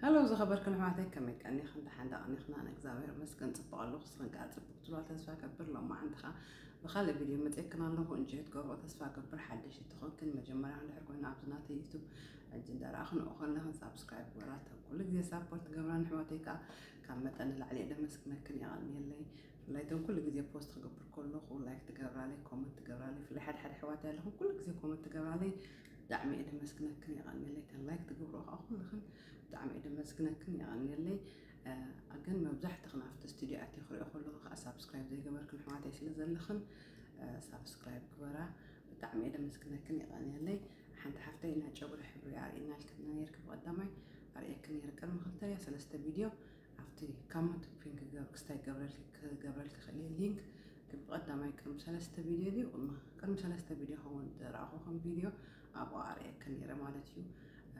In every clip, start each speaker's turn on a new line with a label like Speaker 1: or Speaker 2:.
Speaker 1: Hello ዝኸበርክን ኣሕዋተይ ከመይ ቀኒኽን ደሓን ዶ ቀኒኽና ንእግዚኣብሔር መስገን ፅቡቕ ኣለኹ ንስኽን ከዓ ፅቡቕ ትብላ ተስፋ ገብር ሎማዓንቲ ከዓ ብካልእ ቪድዮ መፅየክን ኣለኹ እንጂ ትገብሮ ተስፋ ገብር ሓደሽ እትኾንክን መጀመርያ ክንድሕር ኮይኑ ኣብዚ ናተይ ዩቱብ ሕጂ እንዳረኣኽን ኡኸለኽን ሳብስክራይብ ግበራ እተን ኩሉ ግዜ ሳፖርት ገብራ ንሕዋተይ ከዓ ካብ መጠን ንላዕሊ እየ ደመስግነክን የቐንየለይ ብፍላይ እተን ኩሉ ግዜ ፖስት ክገብር ከለኹ ላይክ ትገብራለይ ኮመንት ትገብራለይ ብፍላይ ሓደሓደ ኣሕዋተይ ኣለኹም ኩሉ ግዜ ኮመንት ትገብራለይ ብጣዕሚ እየ ደመስግነክን የቀንየለይ እተን ላይክ ትገብሮ ከዓ ኩልክን ብጣዕሚ እየ ደመስግነክን የቀንየለይ ግን መብዛሕትኽን ኣብቲ ስቱድዮ ኣትየ ክሪኦ ከለኹ ከዓ ሳብስክራይብ ዘይገበርክን ኣሕዋተይ ስለ ዘለኽን ሳብስክራይብ ግበራ ብጣዕሚ እየ ደመስግነክን የቀንየለይ ሓንቲ ሓፍተይ ናይ ጨጉሪ ሕብሪ ኣርእየና ኢልክና ነይርኪ ብቀዳማይ ኣርእየክን ነይረ ቅድሚ ክልተ ሰለስተ ቪድዮ ኣብቲ ካሞንት ፒን ክስታይ ክገብረልኪ ክእል እየ ሊንክ ግን ብቀዳማይ ቅድሚ ሰለስተ ቪድዮ ድዩ ቅድሚ ሰለስተ ቪድዮ ከውን ዝረኣኹኹም ቪድዮ ኣብኡ ኣርእየኪ ነይረ ማለት እዩ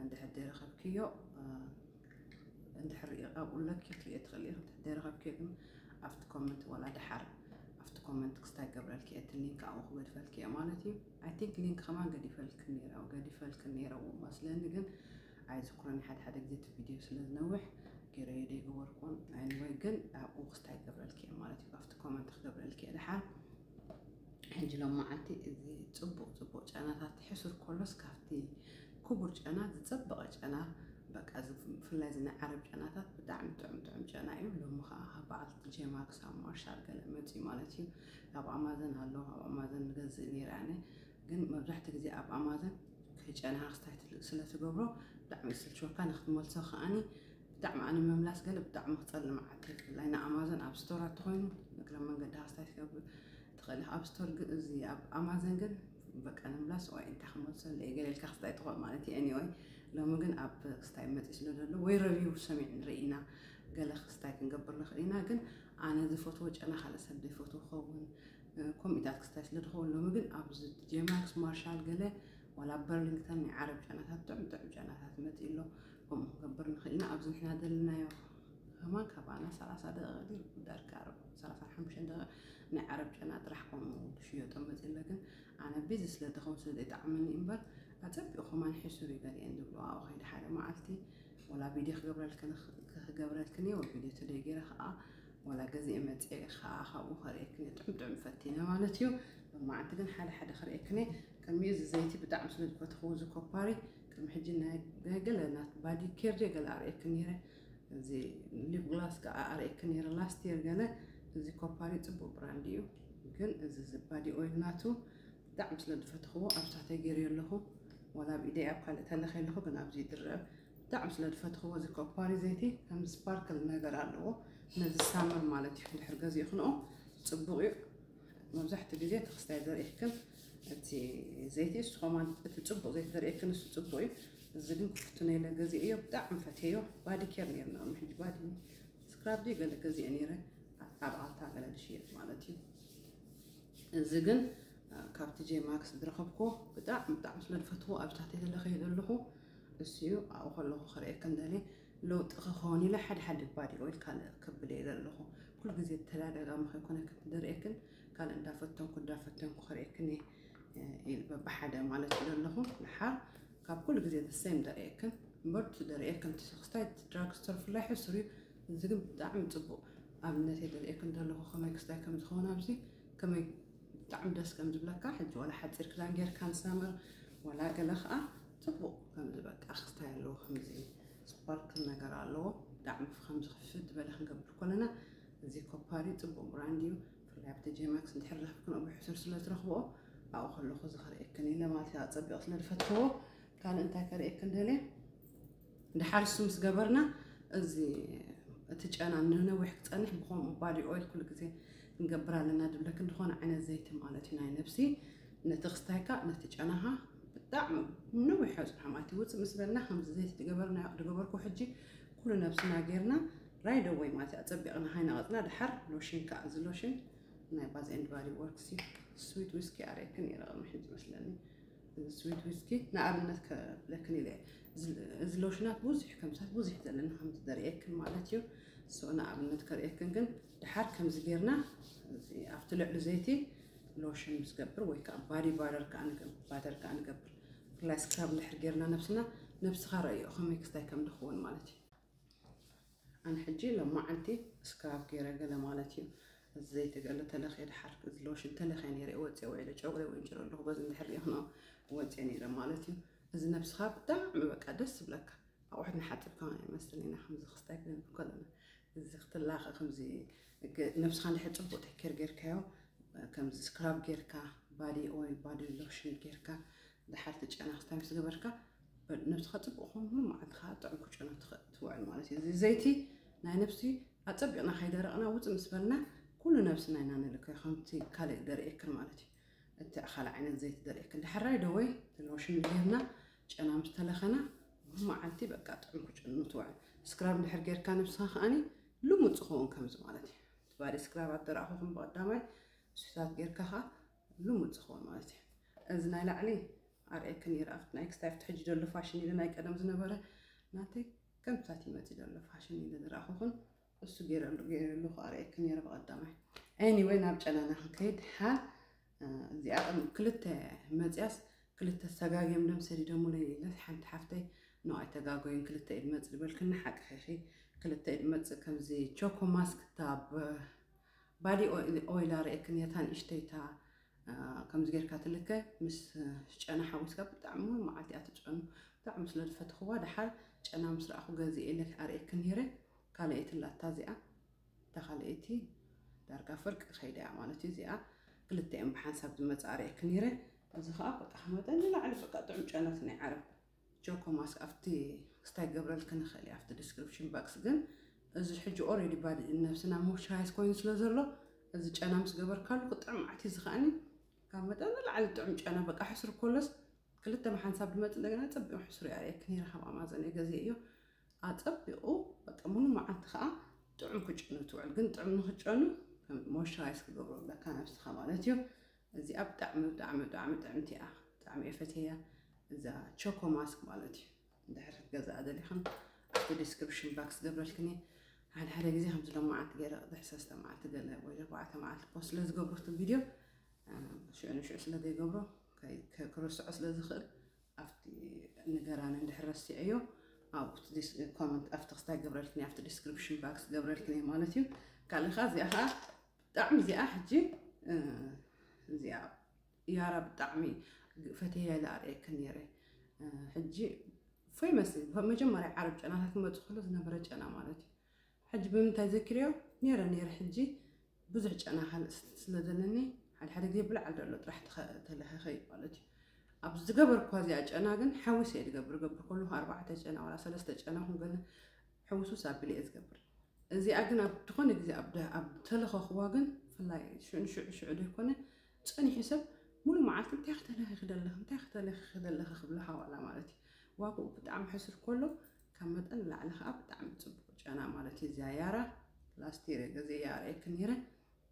Speaker 1: እንድሕር ዘይረኸብክዮ እንድሕር ኣብኡ ለኪ ክትርእዮ ትኽእል እየ እንድሕር ዘይረኸብክዮ ግን ኣብቲ ኮመንት ወላ ድሓር ኣብቲ ኮመንት ክስታይ ገብረልኪ እየ እቲ ሊንክ ኣብኡ ክገድፈልኪ እየ ማለት እዩ ኣይ ቲንክ ሊንክ ከማን ገዲፈልኪ ነይረ ገዲፈልኪ ነይረዎ መስለኒ ግን ኣይዝክሮን እየ ሓደ ሓደ ግዜ እቲ ቪድዮ ስለ ዝነውሕ ገይረዮ ደይገበርክዎን ኣኒወይ ግን ኣብኡ ክስታይ ክገብረልኪ እየ ማለት እዩ ካብቲ ኮመንት ክገብረልኪ እየ ድሓር ሕጂ ሎም መዓልቲ እዚ ፅቡቅ ፅቡቅ ጨናታት ሕሱር ኮሎስ ካብቲ ክቡር ጨና ዝፀበቐ ጨና በቃ ብፍላይ እዚ ናይ ዓረብ ጨናታት ብጣዕሚ ጥዑም ጥዑም ጨና እዩ ሎሚ ከዓ ካብ በዓልቲ ጄማክስ ኣብ ማርሻል ገለ መፅኡ ማለት እዩ ኣብ ኣማዘን ኣሎ ኣብ ኣማዘን ገዝእ ነይረ ኣነ ግን መብዛሕትኡ ግዜ ኣብ ኣማዞን ከይጨነኻ ክስታይ ስለ ትገብሮ ብጣዕሚ ይስልችወካ ንክትመልሶ ከኣኒ ብጣዕሚ ኣነ ምምላስ ገለ ብጣዕሚ ክፀልእ መዓልቲ ብፍላይ ንኣማዞን ኣብ ስቶር ኣተኮይኑ እግረ መንገድኻ ክስታይ ትገብር ትኽእል ኢኻ ኣብ ስቶር ግን እዚ ኣብ ኣማዞን ግን በቃ ንምምላስ ወይ እንታይ ክመልሶ ኣለየ ገለ ኢልካ ክስታይ ትኽእል ማለት እዩ ኤኒወይ ሎሚ ግን ኣብ ክስታይ መፂ ስለ ዘሎ ወይ ረቪው ሰሚዕ ንርኢ ኢና ገለ ክስታይ ክንገብር ንኽእል ኢና ግን ኣነ ዝፈትዎ ጨና ካልእ ሰብ ዘይፈትዎ ክኸውን ከምኢታት ክስታይ ስለ ድኸውን ሎሚ ግን ኣብዚ ጀማክስ ማርሻል ገለ ዋላ በርሊንግተን ናይ ዓረብ ጨናታት ጥዑም ጥዑም ጨናታት መፅእ ኣሎ ከምኡ ክገብር ንኽእል ኢና ኣብዚ ንሕና ዘለናዮ ከማ ካባና ሰላሳ ደቂቕ ግን ዳርጋ ዓረብ ሰላሳን ሓሙሽተን ደቂቕ ናይ ዓረብ ጨና ጥራሕ ከምኡ ክሽየጦ መፅእ ኣሎ ግን ኣነ ቢዚ ስለ ድኸውን ስለ ዘይጠዓመኒ እምበር ኣፀቢቑ ከማን ሕሱር እዩ ገሊአን ዝብሎ ኣብኡ ከይደ ሓደ መዓልቲ ወላ ቪድዮ ክገብረልክን ክገብረልክን እየ ወ ቪድዮ ተደይ ገይረ ከዓ ዋላ ገዚኤ መጺኤ ከኣ ካብኡ ከርእየክን እየ ጥዑም ጥዑም ፈቲነ ማለት እዩ ሎማዓንቲ ግን ሓደ ሓደ ከርእየክን እየ ቅድሚኡ እዚ ዘይቲ ብጣዕሚ ስለ ዝፈተኽዎ እዚ ኮፓሪ ቅድሚ ሕጂ ናይ ገለ ናት ባዲ ኬር ድየ ገለ ኣርእየክን ነይረ እዚ ሊፕ ግላስ ከዓ ኣርእየክን ነይረ ላስት የር ገለ እዚ ኮፓሪ ጽቡቅ ብራንድ እዩ ግን እዚ ዝባዲ ኦይል ናቱ ብጣዕሚ ስለ ዝፈተኽዎ ኣብሳተ ገይርዮ ኣለኹ ዋላ ኣብ ኢደይ ኣብ ካልእ ተለኺ ኣለኹ ግን ኣብዚ ይድረብ ብጣዕሚ ስለ ዝፈትኽዎ እዚ ኮፓሪ ዘይቲ ከም ስፓርክል ነገር ኣለዎ ነዚ ሳመር ማለት እዩ ድሕር ገዚእኽንኦ ፅቡቕ እዩ መብዛሕትኡ ግዜ እቲ ክስታይ ዘርእየክን እቲ ዘይቲ እሱ ኸማን እቲ ፅቡቕ ዘይቲ ዘርእየክን እሱ ፅቡቕ እዩ እዚ ግን ክፍትነ ኢለ ገዚእዮ ብጣዕሚ ፈትየዮ ባዲ ኬር ነርና ሕጂ ባዲ ስክራብ ድዩ ገለ ገዚአ ነይረ ኣብ ኣልታ ገለ ዝሽየጥ ማለት እዩ እዚ ግን ካብቲ ጄ ማክስ ዝረኸብኩዎ ብጣዕሚ ብጣዕሚ ስለ ዝፈትዎ ኣብ ታሕተይ ዘለኸ ዘለኹ እሱዩ ኣብኡ ከለኹ ክርእየክን ደልየ ለውጢ ክኸውን ኢለ ሓደ ሓደ እባ ድዩ ኦይል ካልእ ክብል እየ ዘለኹ ኩሉ ግዜ ተዳጋጋሚ ከይኮነክን ድርእየክን ካልእ እንዳፈተንኩ እንዳፈተንኩ ክርእየክን እየ ኢል በብሓደ ማለት እዩ ዘለኹ ንሓር ካብ ኩሉ ግዜ ዘሰይም ደርእየክን እምበር እቲ ደርእየክን ክስታይ ድራግ ስቶር ፍላይ ሕሱር እዩ እዚ ግን ብጣዕሚ ፅቡቅ ኣብነት እየ ደርእየክን ዘለኹ ከመይ ክስታይ ከም ዝኸውን ኣብዚ ከመይ ብጣዕሚ ደስ ከም ዝብለካ ሕጂ ዋላ ሓጺር ክዳን ጌርካን ሳመር ዋላ ገለ ከኣ ጽቡቕ ከምዚ በቃ ክስታይ ኣለዎ ከምዚ ስፓርክል ነገር ኣለዎ ብጣዕሚ ከምዚ ክፍት ዝበለ ክንገብር ኮለና እዚ ኮፓሪ ጽቡቕ ብራንድ እዩ ብፍላይ ኣብ ዲጄ ማክስ እንድሕር ረኽብክን ኣብ ሕሱር ስለ ዝረኽብኦ ኣብኡ ከለኹ እዚ ክርእየክን ኢለ ማለት እዩ ኣጸቢቕ ስለ ዝፈትዎ ካልእ እንታይ ከርእየክን ደልየ ድሓር እሱ ምስ ገበርና እዚ እቲ ጨና ንነዊሕ ክፀንሕ ብከምኡ ባዲ ኦይል ኩሉ ግዜ ክንገብር ኣለና ድብለክን ዝኾነ ዓይነት ዘይቲ ማለት እዩ ናይ ነብሲ ነቲ ክስታይካ ነቲ ጨናኻ ብጣዕሚ ንነዊሕ ሕፅሑ ማለት ይውፅእ ምስ በልና ከምዚ ዘይቲ ትገበርና ድገበርኩ ሕጂ ኩሉ ነብስና ጌርና ራይደ ወይ ማለት እዩ ኣፀቢቕና ሃይነቐፅና ድሓር ሎሽን ከዓ እዚ ሎሽን ናይ ባዝ ኤንድ ባዲ ወርክስ እዩ ስዊት ዊስኪ ኣርእክን ይረቕሚ ሕጂ መስለኒ ስዊት ዊስኪ ንኣብነት ከብለክን ኢለ እዚ ሎሽናት ብዙሕ ከምሳት ብዙሕ ዘለና ከምዚ ዘርእየክን ማለት እዩ ሶ ንኣብነት ከርእየክን ግን ድሓር ከምዚ ጌርና ኣብቲ ልዕሊ ዘይቲ ሎሽን ምስ ገብር ወይ ከዓ ባዲ ባደር ከዓ ባደር ከዓ ንገብር ብፍላይ ስክራብ እንድሕር ጌርና ነብስና ነብስኻ ረእዮ ከመይ ክስታይ ከም ድኸውን ማለት እዩ ኣነ ሕጂ ሎማዓንቲ እስካብ ገይረ ገለ ማለት እዩ እዚ ዘይቲ ገለ ተለክየ ድሓር እዚ ሎሽን ተለክየ ነይረ ወፅየ ውዒለ ጨጉረይ ወንጭረ ኣለኹ በዚ እንድሕር ሪኢኽኖ ወፅየ ነይረ ማለት እዩ እዚ ነብስኻ ብጣዕሚ በቃ ደስ ዝብለካ ኣቑሑት ንሓፅብካ ውን ኣይመስልን ኢና ከምዚ ክስታይ ክንብል ከለና እዚ ክትላኸ ከምዚ ነብስኻ እንድሕር ፅቡቅ ተኬር ጌርካዮ ከምዚ ስክራብ ጌርካ ባዲ ኦይል ባዲ ሎሽን ጌርካ ድሓርቲ ጨና ክስታይ ምስ ገበርካ ነብስኻ ጽቡቕ ኮይኑ መዓልቲ ከዓ ጥዑም ክጨኑ ትውዕል ማለት እዩ እዚ ዘይቲ ናይ ነብሲ ኣጸቢቕና ከይደረቕና ውፅ ምስ በልና ኩሉ ነብስና ኢና ንልከ ከምቲ ካልእ ደርእየክን ማለት እዩ እቲ ኣኻል ዓይነት ዘይቲ ደርእየክን ድሕራይ ደወይ ሎሽን ገይርና ጨና ምስ ተለኸና መዓልቲ በቃ ጥዑም ክጨኑ ትውዕል ስክራብ ድሕር ጌርካ ነብስኻ ከዓኒ ልሙድ ዝኸውን ከምዚ ማለት እዩ እቲ ባዲ ስክራብ ኣደረኣኹኹም ብቐዳማይ ስታት ጌርካ ከዓ ልሙድ ዝኸውን ማለት እዩ እዚ ናይ ላዕሊ ኣርእየኪ ነይረ ኣብቲ ናይ ክስታይ ኣብቲ ሕጂ ዘሎ ፋሽን ኢለ ናይ ቀደም ዝነበረ ናተይ ከምታት ይመጽእ ዘሎ ፋሽን ኢለ ዝረኣኹኹን እሱ ገይረሉ ገይረሉ ኣርእየኪ ነይረ ብቐዳማይ ኤኒወይ ናብ ጨናና ክንከይድ ሓ እዚኣ ቅድሚ ክልተ መፅያስ ክልተ ሰጋግዮም ደም ሰዲዶሙለይ ኢለስ ሓንቲ ሓፍተይ ኖ ኣይተጋጎይን ክልተ ኢድ መፅ ዝበልክኒ ሓቅኺኺ ክልተ ኢድ መፅ ከምዚ ቾኮ ማስክ እታ ባዲ ኦይል ኣርእየክኒ እታ ንእሽተይታ ከምዚ ጌርካ ትልከ ምስ ጨና ሓዊስካ ብጣዕሚ እውን መዓልቲ እያ ትጨኑ ብጣዕሚ ስለ ዝፈትኽዋ ደሓር ጨና ምስ ረኣኹ ገዚኤ ኢለ ኣርእየኪ ነይረ ካልኣይትላ እታ እዚኣ እታ ካልኣይቲ ዳርጋ ፍርቂ ከይዳ እያ ማለት እዩ እዚኣ ክልተ እየን ብሓንሳብ ዝመፅኣ ኣርእየኪ ነይረ እዚ ከዓ በቃ መጠን ንላዕሊ በቃ ጥዑም ጨነት ናይ ዓረብ ጆኮማስ ኣብቲ ክስታይ ክገብረልኪ ንክእል እየ ኣብቲ ዲስክሪፕሽን ባክስ ግን እዚ ሕጂ ኦሬዲ ባዲ ነብስና ሞይስቸራይዝ ኮይኑ ስለ ዘሎ እዚ ጨና ምስ ገበርካሉ ክጥዕም መዓት እዩ ዝኸኣኒ ካብ መጠን ንላዕሊ ጥዑም ጨና በቃ ሕስሩ ኮሎስ ክልተ መሓንሳብ ድመፅ እንደገና ፀቢቑ ሕስሩ ያርእየኪ ነይረ ካብ ኣማዘን ገዜ እዮ ኣፀቢቑ በቃ ሙሉ መዓልቲ ከዓ ጥዑም ክጨኑ ትውዕል ግን ጥዑም ንክጨኑ ሞይስቸራይዝ ክገብሩ ኣለካ ነብስኻ ማለት እዩ እዚኣ ብጣዕሚ ብጣዕሚ ብጣዕሚ ጥዕምቲ እያ ብጣዕሚ እየ ፈትየያ እዛ ቾኮ ማስክ ማለት እዩ እንድሕር ክትገዝኣ ደሊኽን ኣብቲ ዲስክሪፕሽን ባክስ ገብረልክን እየ ሓደ ሓደ ግዜ ከምዚ ሎም መዓልቲ ገለ ቅድሕ ሰለስተ መዓልቲ ገለ ወይ ኣርባዕተ መዓልቲ ፖስት ስለ ዝገብሮ እቲ ቪድዮ ሽዑ ንሽዑ ስለ ዘይገብሮ ክርስዖ ስለ ዝኽእል ኣብቲ ንገራኒ እንድሕር ረሲዐዮ ኣብኡ ኮመንት ኣብቲ ክስታይ ገብረልክን ኣብቲ ዲስክሪፕሽን ባክስ ገብረልክን እየ ማለት እዩ ካልእ ከዓ እዚኣ ከዓ ብጣዕሚ እዚኣ ሕጂ እዚኣ ያራ ብጣዕሚ ፈተያ ኢለ ኣርእየክን ነይረ ሕጂ ፌመስ መጀመርያ ዓረብ ጨናታት ክመፅእ ከሎ ዝነበረ ጨና ማለት እዩ ሕጂ ብምንታይ ዘኪርዮ ነይረ ነይረ ሕጂ ብዙሕ ጨና ካልእ ስለ ዘለኒ ሓደ ሓደ ግዜ ብልዓል ደሎ ጥራሕ ተለኸኸ እዩ ማለት እዩ ኣብ ዝገበርኳ እዚኣ ጨና ግን ሓዊሰ እየ ዝገብር ገብር ከለኹ ኣርባዕተ ጨና ዋላ ሰለስተ ጨና ኩንገለ ሕውስውስ ኣቢለ እየ ዝገብር እዚኣ ግን ኣብ ዝኾነ ግዜ ኣብ ተለኸኽዋ ግን ብፍላይ ሽዑ ንሽዑ ሽዑ ዘይኮነ ጸኒሑ ሰብ ሙሉ መዓልቲ እንታይ ክተለኺኺ ደለኺ እንታይ ክተለኺኺ ደለኺ ክብሎ ሓዋላ ማለት እዩ ዋግኡ ብጣዕሚ ሕሱር ከሎ ካብ መጠን ንላዕሊ ከዓ ብጣዕሚ ፅቡቅ ጨና ማለት እዩ እዚያ ያራ ላስቲር ግዜ ያረየክ ነይረ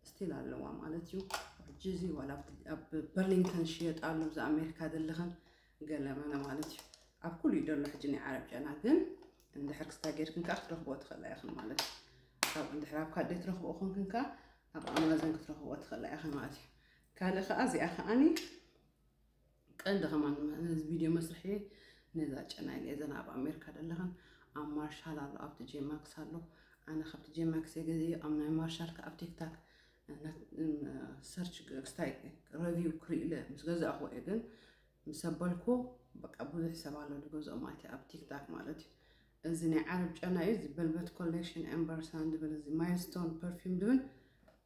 Speaker 1: ስቲል ኣለዋ ማለት እዩ ሕጂ እዚ ዋላ ኣብ በርሊንግተን ሽየጥ ኣሎ እዚ ኣሜሪካ ዘለኸን ገለመለ ማለት እዩ ኣብ ኩሉ እዩ ዘሎ ሕጂ ናይ ዓረብ ጨና ግን እንድሕር ክስታ ጌርክን ከዓ ክትረኽብዎ ትኽእላ ኢኽን ማለት እዩ ካብ እንድሕር ኣብ ካዴ ትረኽብኦ ኮንክን ከዓ ኣብ ኣማዞን ክትረኽብዎ ትኽእላ ኢኽን ማለት እዩ ካልእ ከዓ እዚኣ ከዓኒ ቀንዲ ከማን ነዚ ቪድዮ መስርሒ ነዛ ጨና ኢለ ዘና ኣብ ኣሜሪካ ዘለኽን ኣብ ማርሻል ኣሎ ኣብቲ ጄማክስ ኣሎ ኣነ ካብቲ ጄማክስ የገዘዮ ኣብ ናይ ማርሻል ከዓ ኣብ ቲክታክ ሰርች ክስታይ ረቪው ክርእለ ምስ ገዛእኹ እየ ግን ምስ ኣበልኩ በቃ ብዙሕ ሰብ ኣሎ ዝገዝኦም ኣይቲ ኣብ ቲክታክ ማለት እዩ እዚ ናይ ዓረብ ጨና እዩ እዚ በልበት ኮሌክሽን ኤምበርሳን ዝብል እዚ ማይልስቶን ፐርፊም ዝብል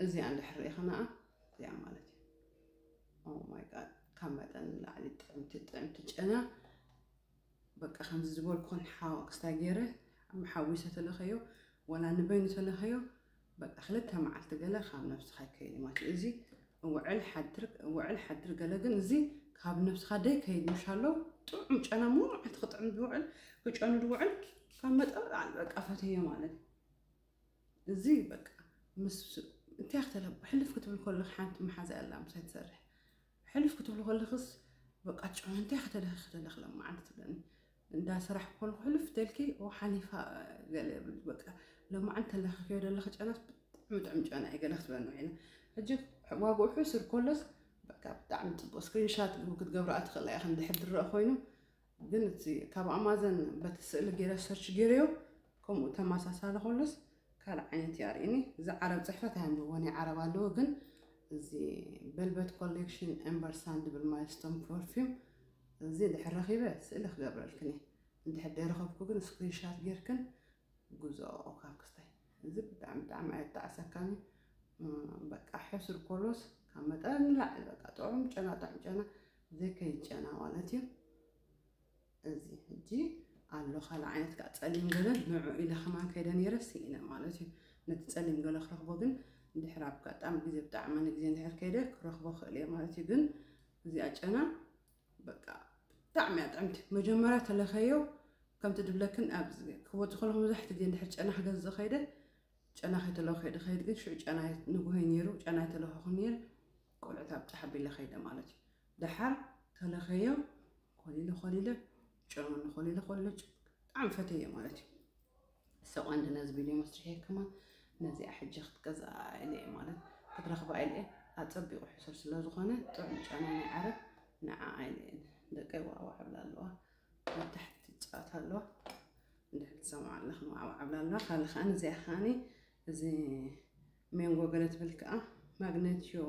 Speaker 1: እዚኣ እንድሕር ርኢኸና እዚኣ ማለት እዩ ኦ ማይ ጋድ ካብ መጠን ንላዕሊ ጥዕምቲ ጥዕምቲ ጨና በቃ ከምዚ ዝበልኩኽን ሓው ኣክስታይ ገይረ ኣመሓዊሰ ተለኸዮ ዋላ ንበይኑ ተለኸዮ በቃ ክልተ መዓልቲ ገለ ካብ ነብስኻ ይከይድ ማለት እዩ እዚ ውዕል ሓድር ውዕል ሓድር ገለ ግን እዚ ካብ ነብስኻ ደይ ከይድ ምሻሎ ጥዑም ጨና ሙሉ መዓልቲ ክጥዕም ዝውዕል ክጨኑ ዝውዕል ካብ መጠን ላዕሊ በቃ ፈተዮ ማለት እዩ እዚ በቃ ምስ እንታይ ክትለብ ሕልፍ ክትብል ከለኺ ሓንቲ መሓዛ ኣላ ምሳይ ትሰርሕ ሕልፍ ክትብሉ ከለክስ በቃ ጭዑ እንታይ ከተለኺ ከተለኺ ለማዓንቲ ትብለኒ እንዳ ስራሕ ኮልኩ ሕልፍ ተልኪ ኦ ሓሊፋ ገለ ብል በቃ ለማዓንቲ ተለኺኪዮ ደለኺ ጨናስ ብጣዕሚ ጥዑም ጨና እዩ ገለ ክትብለኒ ኮይና ሕጂ ዋግኡ ሕሱር ኮሎስ በቃ ብጣዕሚ ፅቡቅ ስክሪንሻት ክትገብራ ትኽእላ ኢኽን ድሕር ድረእ ኮይኑ ግን እቲ ካብ ኣማዘን በቲ ስእሊ ገይረ ሰርች ገይረዮ ከምኡ ተመሳሳሊ ከሎስ ካልእ ዓይነት እዩ ኣርእኒ እዚ ዓረብ ፅሕፈት ኣየንብቦን እዩ ዓረብ ኣለዎ ግን እዚ በልበት ኮሌክሽን ኤምበርሳን ዝብል ማይልስቶን ፐርፊም እዚ ድሕር ረኺበ ስእሊ ክገብረልክን እየ እንድሕር ደይረኸብኩ ግን ስክሪንሻት ጌርክን ጉዞ ካብ ክስታይ እዚ ብጣዕሚ ብጣዕሚ ኣየጣዕሰካን እዩ በቃ ሕሱር ኮሎስ ካብ መጠን ንላዕሊ በቃ ጥዑም ጨና ጥዑም ጨና ዘከይ ጨና ማለት እዩ እዚ ሕጂ ኣሎ ካልእ ዓይነት ከዓ ፀሊም ገለ ንዑ ኢለ ከማን ከይደ ነይረ ስኢነ ማለት እዩ ነቲ ፀሊም ገለ ክረኽቦ ግን ድሕር ኣጋጣሚ ግዜ ብጣዕሚ ንግዜ እንድሕር ከይደ ክረኽቦ ክእል እየ ማለት እዩ ግን እዚኣ ጨና በቃ ብጣዕሚ እያ ጥዕምቲ መጀመርያ ተለኸዮ ከምቲ ድብለክን ኣብ ክወፅ ከለኹ መብዛሕቲ ግዜ እንድሕር ጨና ክገዝእ ከይደ ጨና ከይተለኹ ከይደ ከይድ ግን ሽዑ ጨና ንጉሆይ ነይሩ ጨና ይተለኸኹ ነይር ቆልዑት ኣብ ጫሕ ኣቢለ ከይደ ማለት እዩ ዳሓር ተለከዮ ኮሊለ ኮሊለ ጨኑኒ ኮሊለ ኮሊለ ብጣዕሚ ፈተዮ ማለት እዩ ሰቋንዲ ነዚ ቪድዮ መስርሐ ከማ ነዚኣ ሕጂ ክትገዝኣ ኢለ ማለት ክትረኽባ ኢለ ኣጸቢቑ ሕሱር ስለ ዝኾነ ጥዑም ጨና ናይ ዓረብ ንዓኣ ኢለ ደቀይ ዋዕዋዕ ብላ ኣለዋ ኣብ ታሕቲ ጫት ኣለዋ እንድሕር ትሰምዓ ኣለኽን ዋዕዋዕ ብላ ኣለዋ ካልእ ከዓኒ እዚኣ ከዓኒ እዚ ሜንጎ ገለ ትብል ከኣ ማግነትዮ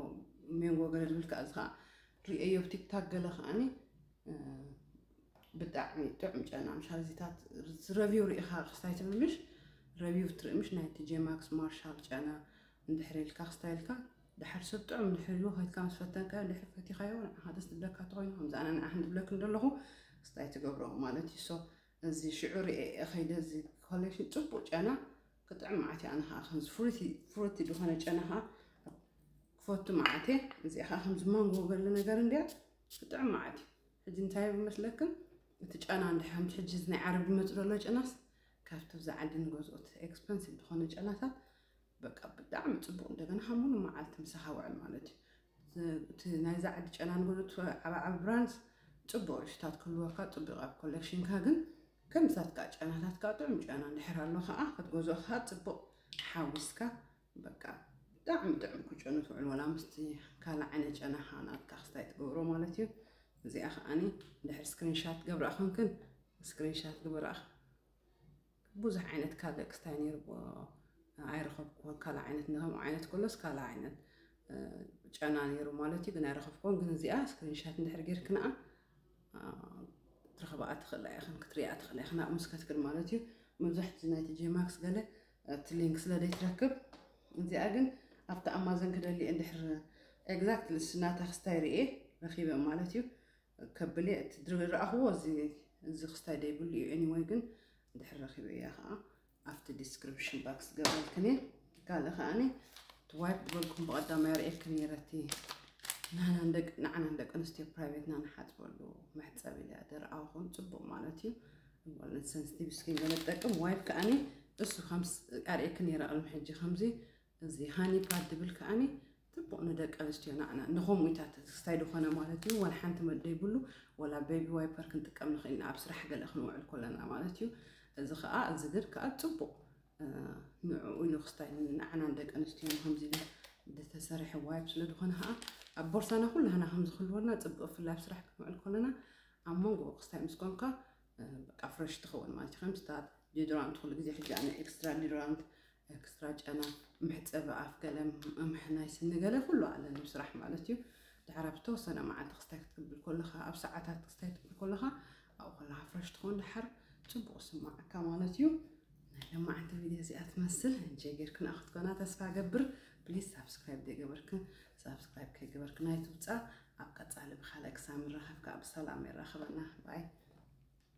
Speaker 1: ሜንጎ ገለ ዝብል ከኣ እዚ ከኣ ርእየዮ ኣብ ቲክታክ ገለ ከኣኒ ብጣዕሚ ጥዑም ጨና ምሽ ኣዚታት ረቪው ርኢኻ ክስታይ ትብል ምሽ ረቪው ትርኢ ምሽ ናይቲ ጄማክስ ማርሻል ጨና እንድሕር ኢልካ ክስታይ ኢልካ ድሓር ሰብ ጥዑም ድሕር ኢሉ ከይትካ ምስ ፈተንካዮ ድሕር ፈቲኻዮ ንዓኻ ደስ ትብለካ ተኮይኑ ከምዚ ኣነ ንዓኽን ትብለክን ደለኹ ክስታይ ትገብሮ ማለት እዩ ሶ እዚ ሽዑ ርእየ ከይደ እዚ ኮሌክሽን ጽቡቅ ጨና ክጥዕም መዓት ኣነ ከዓ ከምዚ ፍሩቲ ፍሩቲ ዝኾነ ጨና ከዓ ክፈቱ መዓት እየ እዚኣ ከዓ ከምዚ ማንጎ ገለ ነገር እንድያ ክጥዕም መዓት እዩ ሕጂ እንታይ መስለክን እቲ ጨና እንዲ ከምቲ ሕጂ ናይ ዓረብ ዝመፅ ዘሎ ጨናስ ካብቲ ብዛ ዓዲ ንገዝኦት ኤክስፐንሲቭ ዝኾነ ጨናታት በቃ ብጣዕሚ ፅቡቅ እንደገና ከም ሙሉ መዓልቲ ምሳካ ውዕል ማለት እዩ እቲ ናይዛ ዓዲ ጨናን ጎሉት ዓባዓቢ ብራንስ ፅቡቅ ርሽታት ክህልወካ ፅቡቅ ኣብ ኮሌክሽንካ ግን ከምሳትካ ጨናታትካ ጥዑም ጨና እንድሕር ኣሎ ከዓ ክትገዝኦ ከዓ ፅቡቅ ሓዊስካ በቃ ብጣዕሚ ጥዑም ክጨኑ ትውዕል ወላ ምስቲ ካልእ ዓይነት ጨና ከዓ ናትካ ክስታይ ትገብሮ ማለት እዩ እዚኣ ከዓኒ ድሕር ስክሪንሻት ገብራ ኮንክን ስክሪንሻት ግበራ ብዙሕ ዓይነት ካዘክስታይ ነይርዎ ኣይረኸብክዎን ካልእ ዓይነት ንከምኡ ዓይነት ከሎስ ካልእ ዓይነት ጨና ነይሩ ማለት እዩ ግን ኣይረኸብክዎን ግን እዚኣ ስክሪንሻት እንድሕር ጌርክንኣ ትረኽብኣ ትኽእላ ኢኽን ክትሪኣ ትኽእላ ኢኽን ኣብ ምስ ከትክን ማለት እዩ መብዛሕቲ ናይቲ ጄማክስ ገለ እቲ ሊንክ ስለ ዘይትረክብ እዚኣ ግን ኣብቲ ኣማዘን ክደሊ እንድሕር ኤግዛክት ልስናታ ክስታይ ርኤ ረኺበ ማለት እዩ ከብል እየ እቲ ድሪ ረኣኽዎ እዚ እዚ ክስታይ ደይብሉ እዩ ኤኒወይ ግን ድሕር ረኺበ እያ ከዓ ኣብቲ ዲስክሪፕሽን ባክስ ገበልክን እየ ካልእ ከዓኒ እቲ ዋይፕ ዝበልኩም ብቐዳማይ ርእየልክን ነይረ እቲ ንዓና ደቂ ኣንስትዮ ፕራይቬትና ንሓፅበሉ መሕፀቢ ኢለያ ደርኣኹን ፅቡቕ ማለት እዩ እምበለን ሰንስቲቭ ስኪን ገለ ትጠቅም ዋይፕ ከዓኒ እሱ ከምስ ኣርእየክ ነይረ ቅድሚ ሕጂ ከምዚ እዚ ሃኒባል ድብል ከኣኒ ጽቡቅ ንደቂ ኣንስትዮ ናዕና ንከምኡ ኢታ ተስታይ ድኮነ ማለት እዩ ዋላ ሓንቲ መድለይ ብሉ ወላ ቤቢ ዋይፐር ክንጥቀም ንክእል ኢና ኣብ ስራሕ ገለ ክንውዕል ኮለና ማለት እዩ እዚ ከኣ እዚ ግን ከኣ ጽቡቅ ንዕኡ ኢሉ ክስታይ ንዓና ንደቂ ኣንስትዮ ከምዚ ኢሉ ዝተሰርሐ ዋይፕ ስለ ዝኾነ ከዓ ኣብ ቦርሳና ኩላህና ከም ዝክልወልና ፅቡቅ ብፍላይ ኣብ ስራሕ ክንውዕል ከለና ኣብ መንጎ ክስታይ ምስ ኮንካ በቃ ፍረሽ ትኸውን ማለት እዩ ከምስታት ዲዶራንት ኩሉ ግዜ ሕጂ ኣነ ኤክስትራ ዲዶራንት ኤክስትራ ጨና፣ መሕጸቢ ኣፍ ገለ፣ መምሒ ናይ ስኒ ገለ ኩሉ ኣለ ን ስራሕ ማለት እዩ። ድሓር ኣብ ዝተወሰነ መዓልቲ ክስታይ ክትቅብል ኮለኻ ኣብ ሰዓታት ክስታይ ትብል ኮለኻ ኣብኡ ኮለኻ ፍረሽ ትኾን ድሓር ጽቡቕ ክስማዓካ ማለት እዩ። ናይ ለማዓንቲ ቪድዮ እዚኣ ትመስል እንጀ ጌርክና ክትኮና ተስፋ ገብር ፕሊዝ ሳብስክራይብ ዘይገበርክን ሳብስክራይብ ከይገበርክን ኣይትውጻእ ኣብ ቀጻሊ ብካልእ ክሳብ ንራኸብ ከዓ ብሰላም የራኽበና ባይ